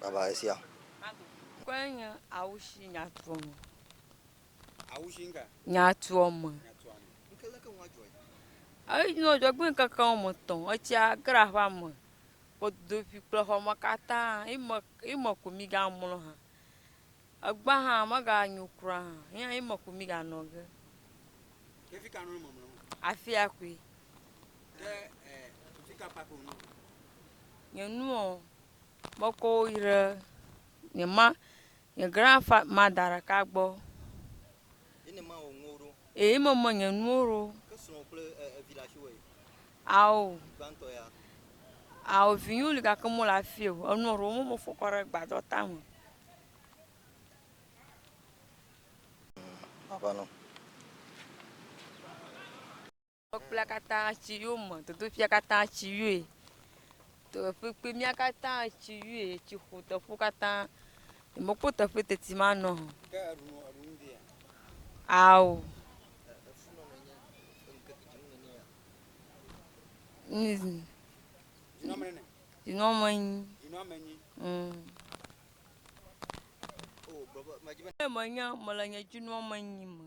Baba esia. Kɔe nye awushi nyatuɔme. Awushi ŋka? Nyatuɔme. Ŋke leke ŋua dzɔe? Eyi nɔ dzɔgbe ŋkeke wɔme tɔ̃. Etsia gra ƒa me. Kodoƒi kple xɔme katã. Ime, ime ko mi ga mlɔ hã. Egba hã me ga nyo kura hã. Eya ime ko mi ga nɔ ge. Ye fika nɔ me mlɔ? Afia koe. Nye nuɔ, mekɔ wo yi ɖe nye ma, nye grandfa mada ɖeka gbɔ. Eyi me me nye nuwo ɖo. Ao, ao vinyo li gake mɔ le afi o. Enuɔ ɖewo mɔ me fɔ kɔ ɖe gbadɔ tame. Kpɔkplea katã tsi yɔ me, dodofia katã tsi yɔe, teƒekpemia katã tsi yɔe, tsi ƒo teƒewo katã, mekpɔ teƒe teti manɔ o. Ke eɖu nɔ eɖu nu via? Ao. Efu nɔ nenye ŋkeke dzi nu nenye ya. Nizin. Dzinɔ me nene. Dzinɔ me nyi. Dzinɔ me nyi. Mm. O, baba, ma dzi be. Menye, mele nye dzinɔ me nyi me.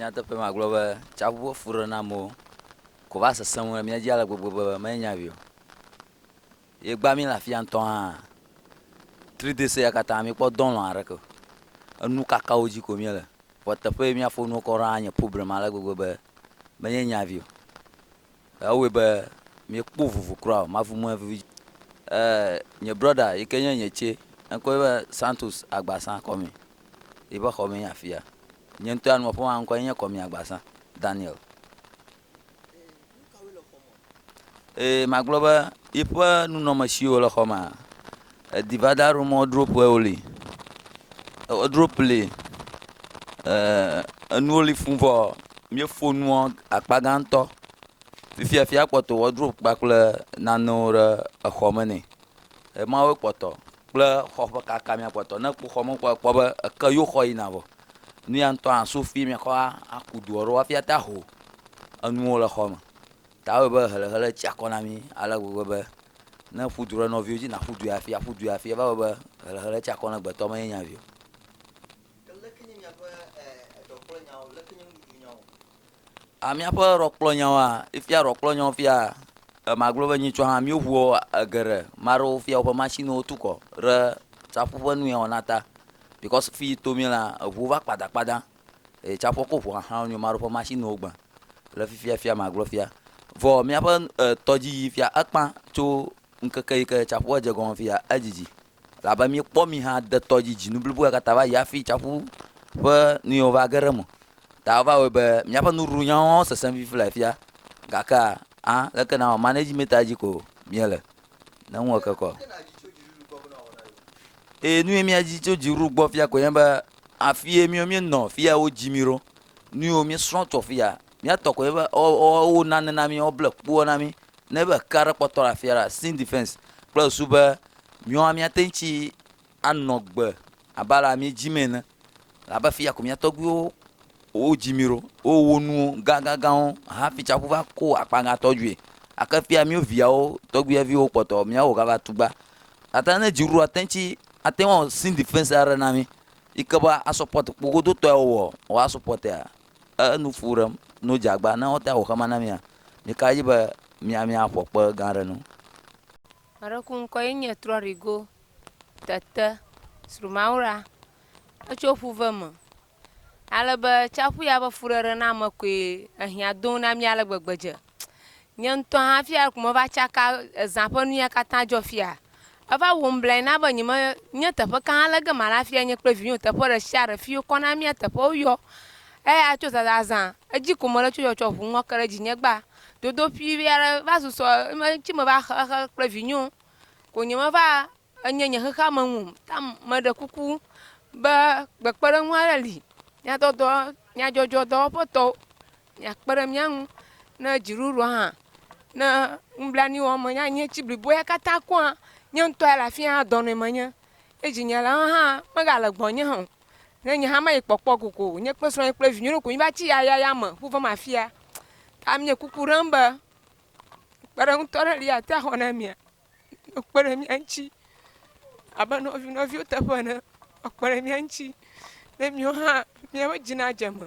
Nyateƒe ma gblɔ be tsaƒu ƒe fuɖenamwo ko va sesẽ ŋu ɖe mía dzi ale gbegbe be menye nya ʋɛ o. Yegbea mí le afia ŋutɔ hã. Tri de sea katã, míekpɔ dɔlɔ̃ aɖeke o. Enu kakawo dzi ko míele. Vɔ teƒe yi míafɔ nuwo kɔ ɖo anye problème ale gbegbe be menye nya vi o. Ewɔe be míekpɔ vovo kura o. Mavu mɔe vevie. Ee, nye brɔda yi ke nye nye tsɛ, eŋkɔe nye Santos Agbasa Kɔmi. Yiƒe xɔmee nye afia. Nye ŋutɔ ya nuwɔƒe ma ŋkɔe nye Kɔmi Agbasa Daniel. Ee, magblɔ be yiƒe nunɔmesiwo le xɔ mea, edi va da ɖo mɔ droƒe woli. E, drop li. E, enuwo li fũ vɔ míefo nuɔ akpa gãtɔ. Fifia fia kpɔtɔ wɔ drop kpakple nanewo ɖe exɔ me nɛ. Emawo kpɔtɔ kple xɔ ƒe kaka mía kpɔtɔ. Ne ekpɔ xɔ me kpɔ ekpɔ be eke yo xɔ yina vɔ. Nu ya ŋutɔ hã so fi mìakɔ aku du aɖewo hafi ate aho enuwo le xɔme. Ta ewɔe be helehele tsi akɔ na mí ale gbegbe be ne èƒu du ɖe nɔviwo dzi nàƒu du yi hafi aƒu du yi hafi eva wɔ be helehele tsi akɔ na gbetɔ menye nya vi o. A Míaƒe ɖɔkplɔnyawoa? Efia ɖɔkplɔnyawo fia e, magblɔ be nyitsɔ hã, míoʋuɔ e geɖe. Ame aɖewo fia woƒe mashiniwo tu kɔ ɖe tsaƒu ƒe nu ya wɔna ta because fi yi to mílea, eŋuwo va kpada kpada eye tsaƒua ko ŋu xaxã wonyo. Ame aɖewo ƒe mashiniwo gbe le fifia fia magblɔ fia. Vɔ míaƒe e tɔdziyi fia ekpã tso ŋkeke yi ke tsaƒua dze egɔme fiya, edzidzi. Elabe míekpɔ mi hã de tɔ dzi dzinu bliboa katã va yi hafi tsiaƒu ƒe nuyiwo va ge ɖe eme ta wova wɔe be míaƒe nuɖuɖunyawo hã wosesẽ vivi le afia. Gake hã, leke nawɔ? Manage mita dzi ko míele, ne ŋu eke kɔ. Eye nuyi míadi tso dziɖuɖu gbɔ fia koe nye be afie míwo míenɔ, fia wodzi mí ɖo, nuyiwo míesrɔ̃ tso afia, míatɔ koe nye be wowo nane na mí, woble kpoa na mí, ne be ekea ɖe kpɔtɔ le afia la, sin defense kple susu be Míawoa, míate ŋu tsi anɔ agbe abe alea míedim ene, elabe afi ya ko mía tɔgbuiwo wodzi mí ɖo, wowɔ nuwo gãgãgãwo hafi tsiaƒu va ko akpa gãtɔ dzoe. Gake fia míwo viawo, tɔgbuiviwo kpɔtɔ, míawo gava tugba. Gake ne dzi ɖoa, ate ŋu tsi, ate ŋu awɔ sin defense aɖe na mí yi ke be asɔpɔt kpogodotɔe wowɔ, wòa sɔpɔtea, enu fu ɖem no dze agba. Ne wote ŋu awɔ xe ma na mía, mí ka dzi be mía, míaƒo kpe gã aɖe nu. Maɖeku ŋkɔ ye nye Trɔrigo Tete Srumawora. Etso ƒuve me. Ale be tsaƒu ya ƒe fuɖeɖename koe ehiã dom na mí ale gbegbe dze. Nye ŋutɔ hã fia ko meva tsaka ezã ƒe nu ya katã dzɔ fia. Eva wɔm blae na be nyeme nye teƒe ka ale ge mala afia nye kple vinyewo teƒe ɖe sia ɖe fi wokɔ na mía teƒewo yɔ. Eya tso zazazã edzi ko mele tso yɔ tsɔ ŋu ŋɔ ke ɖe dzinye gbaa. dodoƒui vi aɖe va susɔ eme ŋuti me va xe exe kple vinyewo ko nye me va enye nye xexea me ŋu ta me ɖe kuku be kpekpeɖeŋu aɖe li nyadɔdɔ nyadzɔdzɔ dɔwɔƒe tɔwo mia kpe ɖe mía ŋu ne dziɖuɖua hã ne nublanui wɔm menye anyi ŋuti bliboe katã kua nye ŋutɔ ya le afia dɔnɔe menye eye dzinyelawo hã mega le gbɔnye hã o. Ne nye hã mayi kpɔkpɔ koko, nye kple srɔ̃nye kple vinyɔnu ko mi va tsi yaya ya me ƒu vɔm afia. Ta mi nye kuku ɖem be kpe ɖe ŋutɔ ɖe li ate axɔ na mia. Kpe ɖe mia ŋutsi abe nɔvi nɔviwo teƒe ene. Kpe ɖe mia ŋutsi ne miwo hã miaƒe dzi nadze eme.